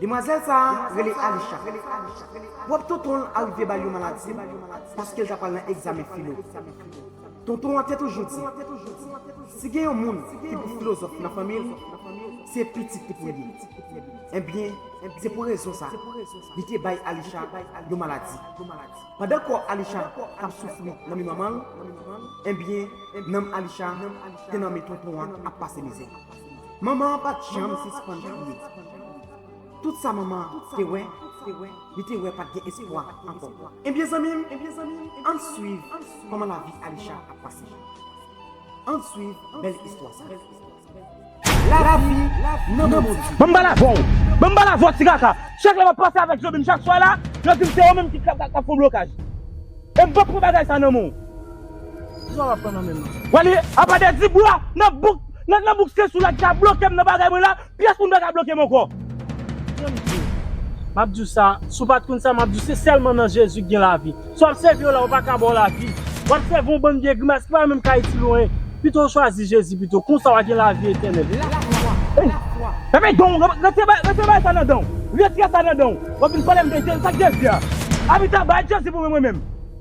Demwazèl sa a rele Alisha. Pwòp tonton l arive ba l yon maladi paske l ta pral nan egzamen filo. Tonton an te toujou di, si gen yon moun ki pou filozòf nan fanmi l, se pitit li pou l ye. Enben, se pou rezon sa a, li te bay Alisha yon maladi. Pandan kò Alisha t ap soufri nan men manman l, enben, nanm Alisha te nan men tonton an ap pase mizè. Manman an pa t janm sispann kriye. Tout sa manman an te wè, li te wè pa t gen espwa ankò. Ebyen zanmi m, ann suiv kòman lavi Alisha ap pase. Ann suiv bèl istwa sa a. Lavi nan men Bondye. Ban m bal avè w! Ban m bal avè w, ti kaka! Chak lè m ap pase avèk Zobin chak swa la, yo di m se ou menm ki ap fè w blokaj. E m pap pran bagay sa a nan men w. Kisa wap pran nan menm nan? Wè li apa de di bwa nan bouk nan nan bouk se soulad ka blokem nan bagay mwen la pyès moun paka blokem ankò. Kiyem di ou? Map diw sa, si w pat konn sa map diw se sèlman nan Jezi k gen lavi. Si wap sèvi yo la yo paka baw lavi. Wap sèvi yon bann vye grimas ki pa menm ka itil ou anyen. Pito w chwazi Jezi pito, konsa wa gen lavi etènèl. Fèmen danw, retiré bagay retiré bagay sa nan danw. Retiré sa nan danw. Wap vin palem de Jezi, sak Jezi a? Abita bay Jezi pou mwen mwen menm.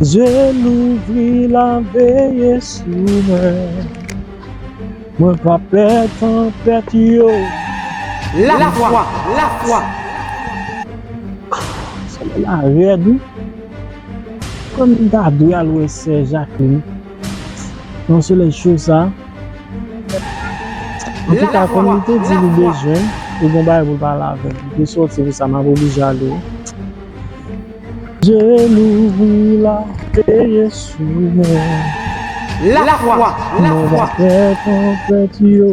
Zye m louvri l ap veye sou mwen Mwen pa pè tanpèt yo Lafwa, lafwa Solèy la rèd wi Kòm m ta dwe al wè sè Jacqueline Yon solèy cho sa. Anpil ka konnen te di li bezwen ou bon bay pou pa lave. Li soti pou sa ma pou li jale. Je louvri la peye sou mwen. La fwa, la fwa. Mwen va fè ton pèt yo.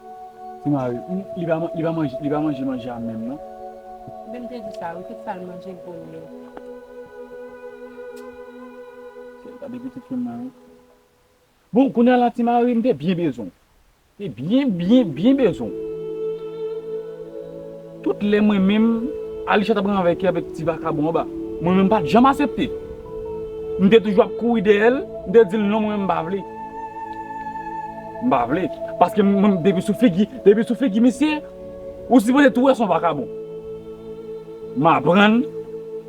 Ti mari, Li pa li pa manje li pa manje manje a menm non. Vin te di sa wi tout sal manje gwo lye. Sèl gade pitit fi m nan wi. Bon kounya la ti mari m te byen bezwen w. Te byen byen byen bezwen w. Tout lè mwen menm, Alisha t ap ranvèke avèk ti vakabon an ba, mwen menm m pa t janm asepte. M te toujou ap kouri dèyè l, m te di l non mwen menm m pa vle. M pa vle. Paske mwen depi sou figi, depi sou figi misye, ou sipoze tou wè son vakabon. M aprann,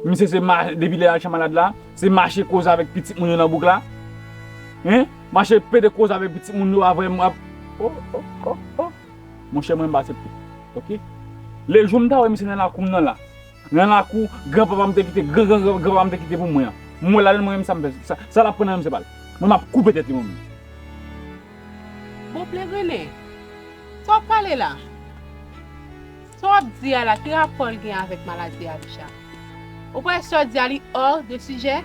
misye se ma, depi lè Alisha malad la, se mache koze avèk pitit moun yo nan bouk la. Hein! Mache pede koze avèk pitit moun yo avèm, ap, oh oh oh oh. Monchè mwen m pa aksepte ok Le jou m ta wè misye nan lakou m nan la Nan lakou gran papa m te kite gran gran gran gran papa m te kite pou mwen an M wè l ale m wè menm sa m fè sa Sa l ap pran nan men m se pa l Mwen m ap koupe tèt li mwen menm. Bopè Rene, sa w ap pale la? Sa w ap di a la ki rapò l gen avèk maladi Abish a? Ou pa wè sa w di a li hors de sujet?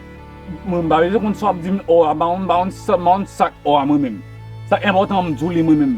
Mwen m pa bezwen konn sa w ap di m hors a M pa konn m pa konn sa m pa konn sak hors a mwen menm Sa k enpòtan m di w li mwen menm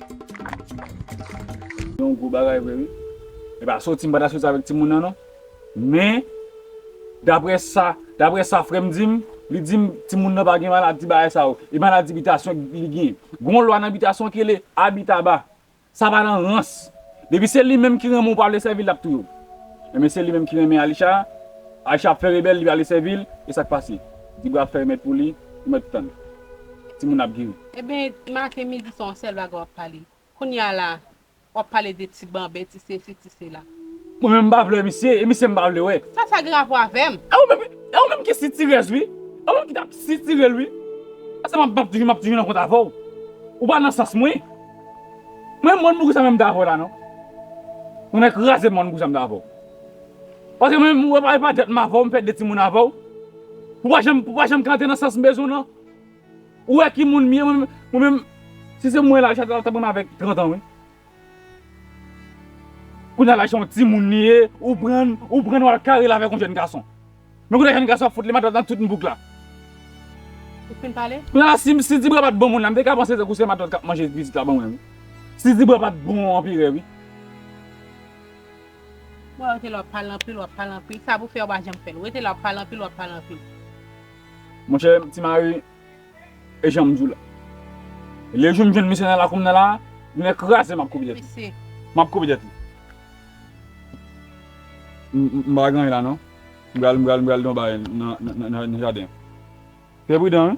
Se yon gwo bagay vre wi. Epa soti m pa ta soti avèk timoun nan non. Men daprè sa daprè sa frè m di m, li di m timoun nan pa gen maladi bagay sa yo. E maladi bitasyon li gen. Gen yon lwa nan bitasyon ki rele abitaba. Sa pa nan rans. Depi se li menm ki renmen w pa vle sèvi l l ap touye w. Enben se li menm ki renmen Alisha. Alisha ap fè rebèl li pa vle sèvi l. E sa k pase? Ti bwa fèy mèt pou li, ou mèt tann. Timoun nan ap geri. Ebyen maten midi swa on sèl bagay wap pale kounya la wap pale de ti banben ti sesi ti sela. Mwen menm m pa vle wè misye e misye m pa vle wè. Sa sa gen rapò avèm? E ou menm e ou menm ki sitirèz wi e ou menm ki tap sitirel wi asa map map di map di yon kont avèw ou pa nan sans mwen mwen mòn pou kisa menm m ta avèw la non ou nan kraze mòn pou kisa m ta avèw paske mwen menm ou wè pa jwèt m avèw m fè de timoun avèw ou pa janm ou pa janm ka antre nan sans m bezwenw nan. Ou wè ki moun m ye mwen menm si se mwen laj la ta pran m avèk 30 an wi. Kounya laj yon timoun li ye ou prann ou prann wal karel avèk yon jèn gason. Men kounya jèn gason ap fout li matrap nan tout bouk la. Ou fin pale? Kounya la si si dibra pat bon moun la m te ka panse tankou se matant kap manje vizit la ban mwen wi. Si dibra pat bon anperè wi. Bon rete la wap pale anpil wap pale anpil sa pou fè ou pa janm fèl rete la wap pale anpil wap pale anpil. Monchè ti mari e janm diw la le jou m jwenn misye nan lakoum nan la lunèt kraze map kouri dèt li map kouri dèt li m pa gen anyen la non m pral m pral m pral donbare nan jaden fè pridan wi.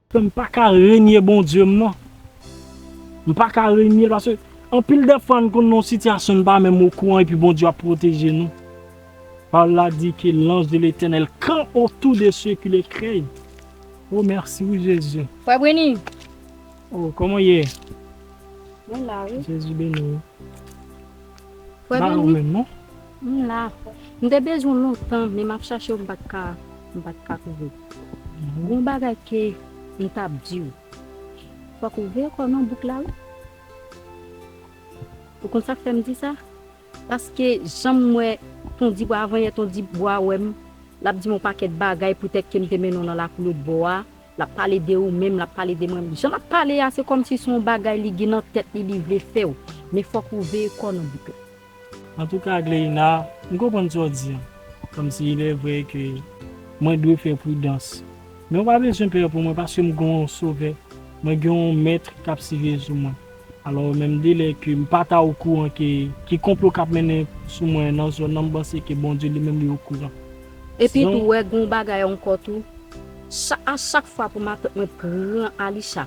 Fè m pa ka renye Bondye m non. M pa ka renye l paske anpil dè fwa n konn nan yon sitiyasyon n pa menm okouran epi Bondye ap pwoteje nou. Pawòl la di ke lanj de Letènèl kan otou de se ki le krey. O mèsi wi Jezi. Frè Breny! O, kòman w ye? Mwen la wi. Jezi beni w. Frè Beni? Ba ou menm non. M la. M te bezwen w lontan men m ap chache w m pa t ka m pa t ka twouve w. Gen yon bagay ke m t ap di w. Fòk ou veye kò w nan bouk la wi. Ou konn sa k fè m di sa? Paske jan m wè ton Dibò avan yè ton Dibò a wè m l ap di m yon pakèt bagay poutèt ke m te mennen w nan lakou lotbò a. Lap pale de ou menm lap pale de mwen jan lap pale a se kòmsi son bagay li gin nan tèt li li vle fèw men fòk ou veye kòw nan bout la. Antouka Agleïna m konprann sa w di an kòmsi il est vrai ke mwen dwe fè pridans men ou pa bezwen pè pou mwen paske m gen yon sovè mwen gen yon mèt kap siviye sou mwen. Alò menm delè ke m pa ta okouran ke ki konplo kap mennen sou mwen nan zòn nan m panse ke Bondye li menm li okouran. Epi tou wè gon bagay ankò tou sa a chak fwa pou matant mwen pran Alisha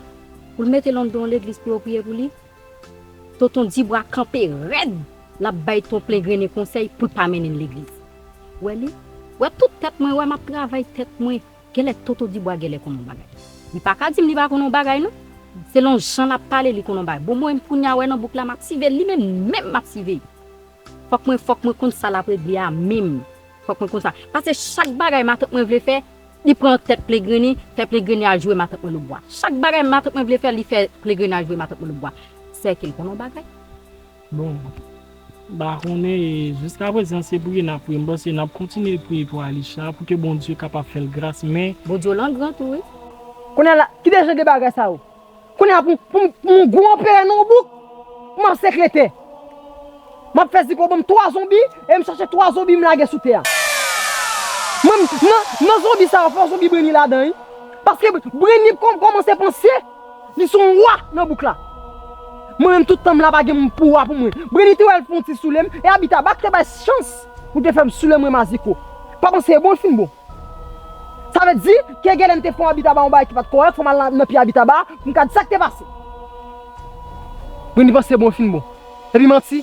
pou l mete lon don legliz pou yo priye pou li tonton Dibwa kanpe rèd lap bay ton plen grennen konsèy pou l pa mennen l legliz wè li wè tout tèt mwen wè map travay tèt mwen Genlè Toto Dibwa genlè konn on bagay. Li pa ka dim li pa konn on bagay non. Selon jan lap pale li konn on bagay. Bon mwen kounya wè nan bouk la map sive li menm menm map sive. Fòk mwen fòk mwen konn sa lap regle a menm. Fòk mwen konn sa. Pase chak bagay matant mwen vle fè li pran tèt plegrini fè plegrini al jwe matant mwen loubwa. Chak bagay matant mwen vle fè li fè plegrini al jwe matant mwen loubwa. Sèke l konn on bagay. Bon, m pa konnen e jiska prezan se priye nap priye m panse nap kontinye priye pou Alisha pou ke Bondye kapab fèl gras men. Bondye w lan gran tou wi. Kounya la kide jan de bagay sa yo kounya pou pou yon gwo anperè nan yon bouk pou map sekrete map fè ziko banm 3 zonbi e m chache 3 zonbi m lage sou tè a nan zonbi sa yo fò zonbi brenni ladan wi paske brenni kòmanse panse. Li son roi nan bouk la. Mwen menm tout tan m la pa gen moun pou roi pou mwen. Breni te wèl fon ti soule m e abita bat te bay chans pou te fèm soule mwen maziko. Pa panse e bon l fin bon. Sa vle di ke gen lè m te fon abitaba yon bagay ki pat korèk fò m al nan pye abitaba pou m ka di sak te pase. Breni panse e bon l fin bon. Epi manti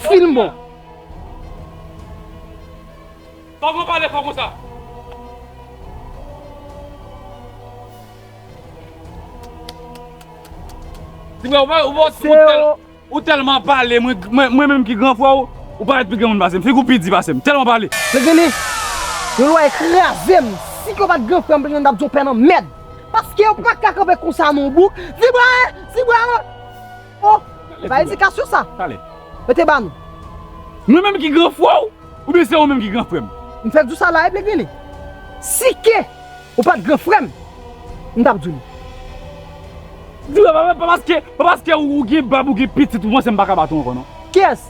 fin bon. Pam lan pale fò konsa. Timè ou telman pale mwen menm ki gran frè ou ou paret pi gen moun pasem figi ou pi di pasem telman pale. Mwen genle Yon lwa e krazem si ke ou pat gran frèm plenyen tap di yon pè nan mèd paske ou paka kanpe konsa non bouc vibra e vibra lan. Oh! Se pa edikasyon sa? Talè. Yo te ba nou. Mwen menm ki gran frè w? Oubyen se ou menm ki gran frè m? M fèk di w sa la Ebli Gwili. Si ke ou pa t gran frè m, m t ap di w li. Di w pa paske ou gen bab ou gen pitit ou panse m pa ka bat ou ankò non. Kiyès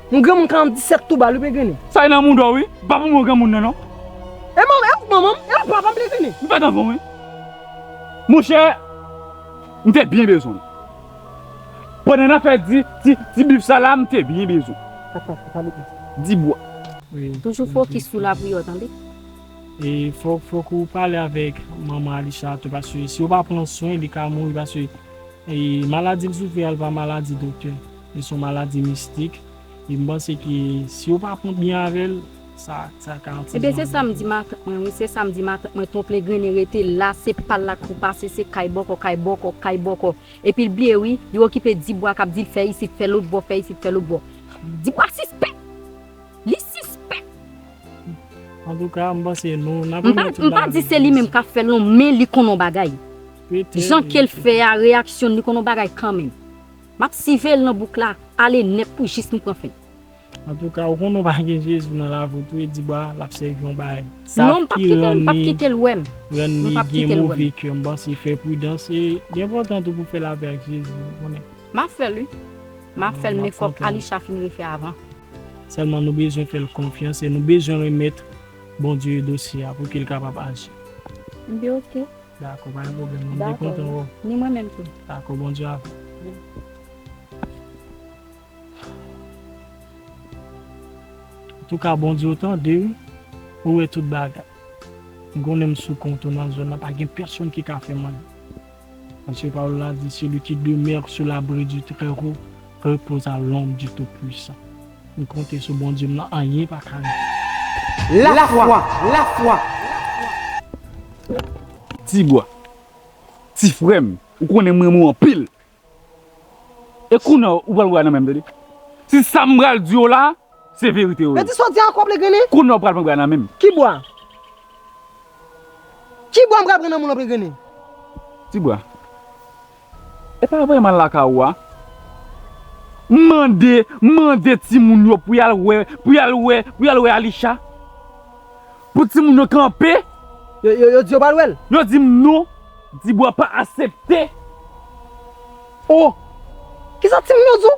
Yon granmoun 47 tou bal wi pe grennen. Sa nan mouda w wi, pa pou mwen granmoun nan non. E manman e manman m e papa m pe grennen. M pat anvan w wi. Monchè m te byen bezwen l. Pandan nap fè ti ti ti bif sa la m te byen bezwen l. Papa papa m pase. Di bwa. Toujou fokis sou lapri yo tande. E fok fok ou pale avek manman Alisha tou paske si ou pa pran swen li ka mouri paske e maladi li soufri a li pa maladi doktè. Li son maladi mistik e m panse ke si yo pa pran byen avè l sa sa ka atire Ebyen se sam di matant mwen wi se sam di matant mwen ton plegrin e rete la se pal la kou pase se kay bòkò kay bòkò kay bòkò epi l bliye wi li okipe dibwa kap dil fè isit fè lòt bò fè isit fè lòt bò dibwa sispèk li sispèk Antouka m panse nou nap remèt tout bagay m pa di se li menm kap fè l non men li konn on bagay jan kel fè a reyaksyon li konn on bagay kanmenm. Map siveil nan bouk la ale net pou jis m pran fen. Antouka ou konnen ou pa gen Jezi nan lavi ou tou e di ba lap sèvi yon bagay. Sa ki rann li gen move kè m panse fè pridans e li enpòtan tou pou fè lapè ak Jezi ou konnen. Map fèl wi map fèl men fòk Alisha fin refè avan. Sèlman nou bezwen fèl konfyans e nou bezwen remèt Bondye dosye a pou kel kapab aji. M di ok. Dakò pa gen pwoblèm non m te kontan wè w. Dakò ni mwen menm tou. Dakò bon djab. Antouka bon diw tande wi ou wè tout bagay m konnen m sou kont ou nan zòn nan pa gen pèsonn ki ka fèm anyen paske pawòl la di celui qui demeure sous l'abri du très haut repose à l'ombre du tout puissant. M konte sou Bondye m nan anyen pa ka rive. La fwa! La fwa! Ti bwa! Ti frè m! Ou konnen m renmen w anpil! E kounye a ou pral bwa nan men m tande! Si sa m pral di w la a se verite yo ye! Mèdi sòti ankò Plegrini! Kounye a ou pral pran bwa nan men m! Ki bwa? Ki bwa m pral pran nan men w lan Plegrini? Ti bwa! E pa vreman lakay ou a. M mande, m mande timoun yo pou y al wè, pou y al wè, pou y al wè Alisha. Pou timoun yo kanpe. Yo di yo pa al wè l? Yo di m non, Dibwa pa asepte. O! Kisa timoun yo di w?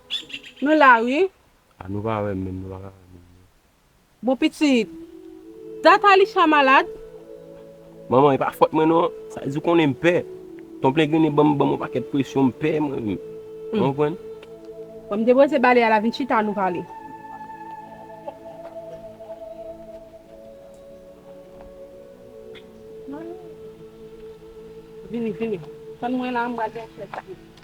Nou la wi. A nou pa wèm menm nou pa ka wèm menm non. Bon pitit. Dat Alisha malad. Manman e pa fòt mwen non. Sa di ou konnen m pè. Ton plengrene banm banm yon pakèt presyon m pè mwen menm. Ou konprann. Bon m depoze bale a la vin chita nou pale. Vini vini. Tann mwen la m pral gen chèz.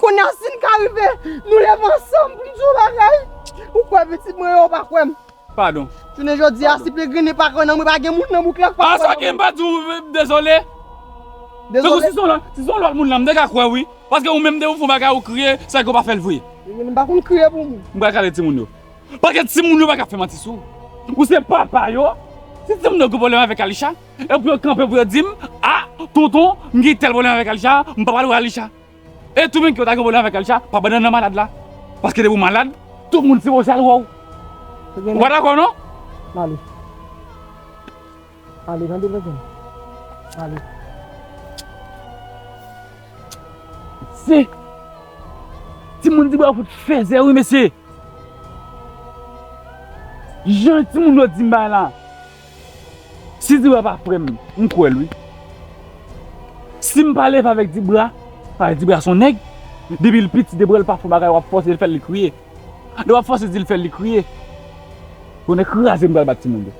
Kounya si n ka rive nou leve ansanm pou n di yon bagay, ou kwè pitit mwen yo pa kwè m. Padon. Jounen jodi a si Pegrini pa kwè nan mwen pa gen moun nan bouk la k pa kwè nan mwen. As ok m pa di w dezole. Tankou si se yon lòt moun la m te ka kwè w wi. Paske ou menm depi w fè yon bagay ou kriye sèke ou pa fè l vre. Pegrini m pa konn kriye pou moun. M pral kale timoun yo. Paske timoun yo pa ka fè manti sou w. Ou se papa yo. Si timoun yo gen pwoblèm avèk Alisha. Epi yo kanpe pou yo di m, A, tonton, m gen tèl pwoblèm avèk Alisha, m pa pral wè Alisha. E tou menm ke yo ta gen pwoblèm avèk Alisha, pa pandan nan malad la. Paske depi w malad, tout moun sipoze al wè w. Ou pa dakò non? Ale. Ale, tande vre zanmi. Ale. Se timoun di bwa fout fèzè wi mesye. Jan timoun yo di m bagay la. Si dibra pa frè m, m kwè l wi. Si m pa leve avèk dibra, paske dibra s on nèg, depi l piti debra l pa fon bagay w ap fòse l fè l li kriye. Lè w ap fòse di l fè l li kriye. Bonè kraze m pral bat timoun yo.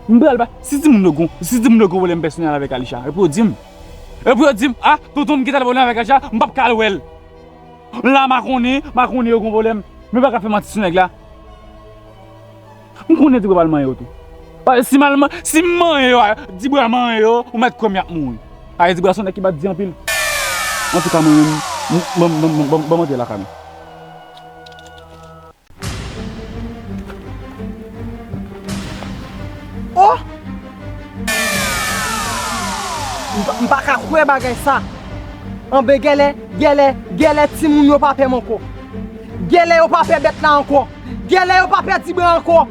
M pral bat, si timoun yo gon, si timoun yo gon pwoblèm pèsonèl avèk Alisha, epi yo di m. Epi yo di m, a, tonton m gen tèl pwoblèm avèk Alisha, m p ap ka al wè l. La makonnen, makonnen yo gon pwoblèm, men yo pa ka fè manti sou nèg la. M konnen Dibra pral manyen yo tou. Paske si mal si m manyen yo a Dibra manyen yo ou mèt kwè m y ap mouri. Paske Dibra se yon nèg ki bati di anpil. Antouka mwen menm banm banm banm banm antre lakay mwen. Oh! M pa ka kwè bagay sa. Anben gèlè gèlè gèlè timoun yo pa pè m ankò. Gèlè yo pa pè bèt la ankò. Gèlè yo pa pèdi mwen ankò.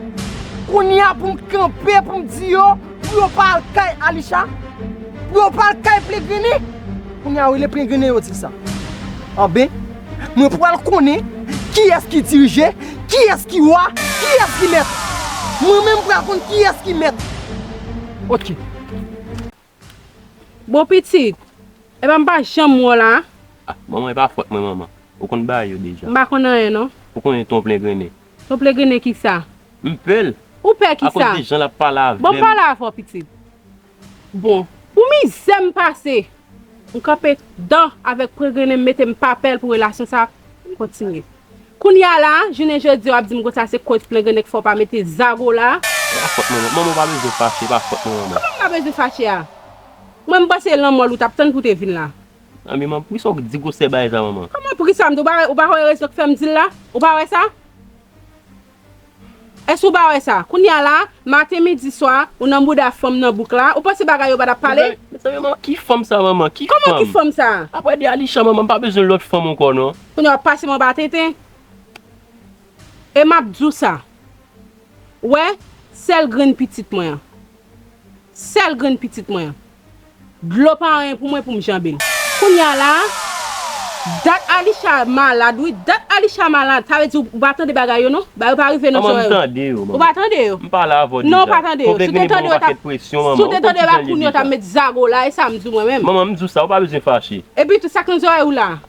Kounye a pou m kanpe pou m di yo pou yo pa al kay Alisha, pou yo pa al kay Plegrini. Kounye a wi lè Plegrini yo di sa. Anben, mwen pral konnen kiyès ki dirije, kiyès ki wa, kiyès ki mèt. Mwen menm m pral konn kiyès ki mèt. Ok. Bon pitit, epa m pa janm wè w la. Ah manman e pa fòt mwen manman. Ou konn bagay yo deja. M pa konn anyen non. Ou konnen ton plengrenen. Ton plengrenen kisa? M pè l. Ou pè kisa? Akoz de jan l ap pale avè m. Bon pale avè w pitit. Bon, pou mizè m pase, m kanpe dan avèk plengrenen m mete m pa pè l pou relasyon sa kontinye. Kounya la, jounen jodi a wap dim konsa se koz plen grenn nèg fè w pa mete zago la. Se pa fòt manman, manman w pa bezwen fache, e pa fòt manman manman. Kòman m pa bezwen fache a? Mwen m panse lan mò l ou tap tann pou te vin la. Nan men manman, poukisa w di gwosè bagay sa manman? Kòman poukisa m di, ou pa wè rezon k fè m di l la? Ou pa wè sa? Èske ou pa wè sa? Kounye a la, maten, midi, swa, ou nan bouda fanm nan bouk la, ou panse bagay yo pa tap pale? Mezanmi manman ki fanm sa manman? Ki fanm? Kòman ki fanm sa? Aprè de Alisha manman m pa bezwen lòt fanm ankò non. Kounye a wap pase m anba tenten? E map di w sa, wè, sèl grenn pitit mwen an. Sèl grenn pitit mwen an. Dlo pa anyen pou mwen pou m janbe l. Kounye a la a, dat Alisha malad wi. Dat Alisha malad, sa vle di ou pa tande bagay yo non. Bagay yo pa rive nan zòrèy ou. Manman, m tande yo, manman. Ou pa tande yo? M pale avè w deja. Non, ou pa tande yo. Si w te tande yo, ou t ap. Si w te tande yo, epi kounye a ou t ap met zago la. E sa m di w mwen menm. Manman, m di w sa, ou pa bezwen fache. Epitou, sa k nan zòrèy ou la a?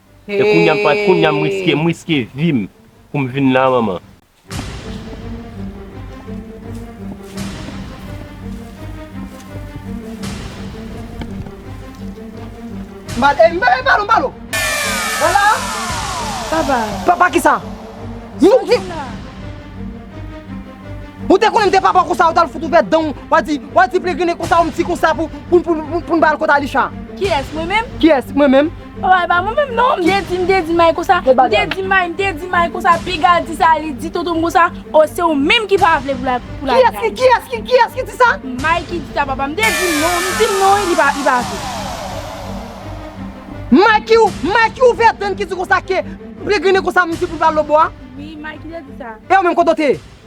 E kounya m pat kounya m riske m riske vim pou m vin la manman. Mal e mal malo malo Wala Papa Papa kisa Moun ki Ou te konnen m te papa konsa ou tal fout ouvè danw wa di wa di plegrinnen konsa yon ti konsa pou pou pou pou pou n bal kont Alisha. Kiyès mwen menm? Kiyès mwen menm? Papa epa mwen menm non mte di mte di may konsa mte di may mte di may konsa piga di sa li di tontonm konsa oh se ou menm ki pa vle pou la grann. Kiyès ki kiyès ki di sa? May ki di sa papa mte di non mdi non wi li pa vle. May ki may ki ouvè dan ki di konsa ke mte grine konsa mdi poul pral lobo a? Wi may ki te di sa. E ou menm kote ou te ye?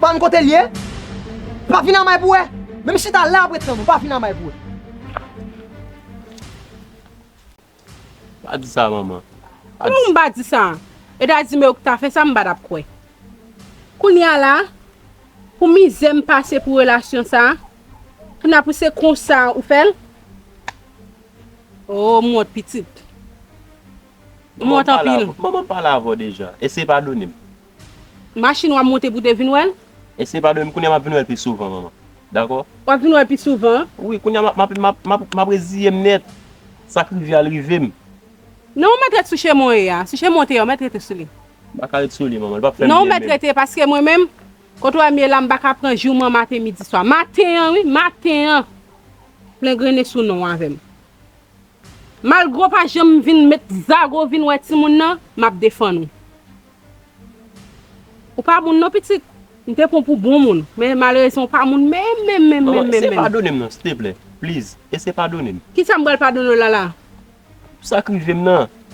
Banm kotel ye? Pa vin amay pou wè? Menm chita la ap ret sanm ou pa vin amay pou wè. Pa di sa manman. Kouman m pa di sa? Yo ta di m yo k ta fè sa m pa tap kwè. Kounya la pou mizè m pase pou relasyon sa, kounya pou se konsa ou fè l? Oh m wont pitit. M wont anpil. Manman pale avè w deja. Eseye padone m. Machin wap monte pou te vin wèl? Ese pa doyem kounya map vin wèl pi souvan manman dakò. Wap vin wèl pi souvan? Wi kounya map reziyem nèt sak rive al rivem. Non ou mèt ret sou chemen w ye a, sou chemen w te ye a ou mèt rete sou li. M paka ret sou li manman li pap fèm byen menm. Non ou mèt rete paske mwen menm kote w wèm ye la m paka pran jou man maten midi swa. Maten an wi maten an plengrene sou non w avèm. Malgre w pa janm vin met zago vin wè timoun nan, m ap defann ou. Ou pa moun non pitit. M te pran w pou bon moun, men malerezman w pa moun menm menm menm menm menm. Ese padone m non siteplè, please, ese padone m. Kisa m pral padone w la la? Pou sa k rive m nan.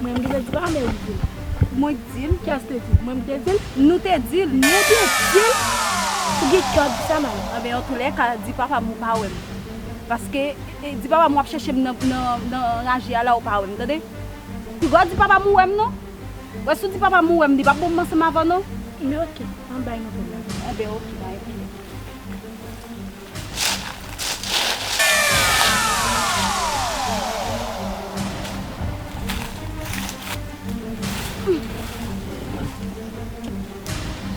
Mwen m te dil pa men li dil. Mwen k dil kes te dil. Mwen m te dil nou te dil. Nou te dil ou gen kè di sa nan. Anben an tou lè ka di papa m ou pa wè m. Paske di papa m wap chèche m nan raje a la ou pa wè m tande. Pi gò di papa m ou wè m non. Wè si w di papa m ou wè m li pap bon m ansanm avè w non. Anben ok an bay yon pil la. Anben ok bay yon pil.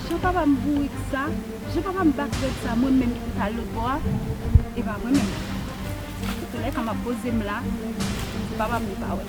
Jan papa m bourik sa, jan papa m bak rèd sa mwen menm ki pou ta al lòt bò a e pa mwen menm. Paske lè sa m ap poze m la, se papa m li pa wè.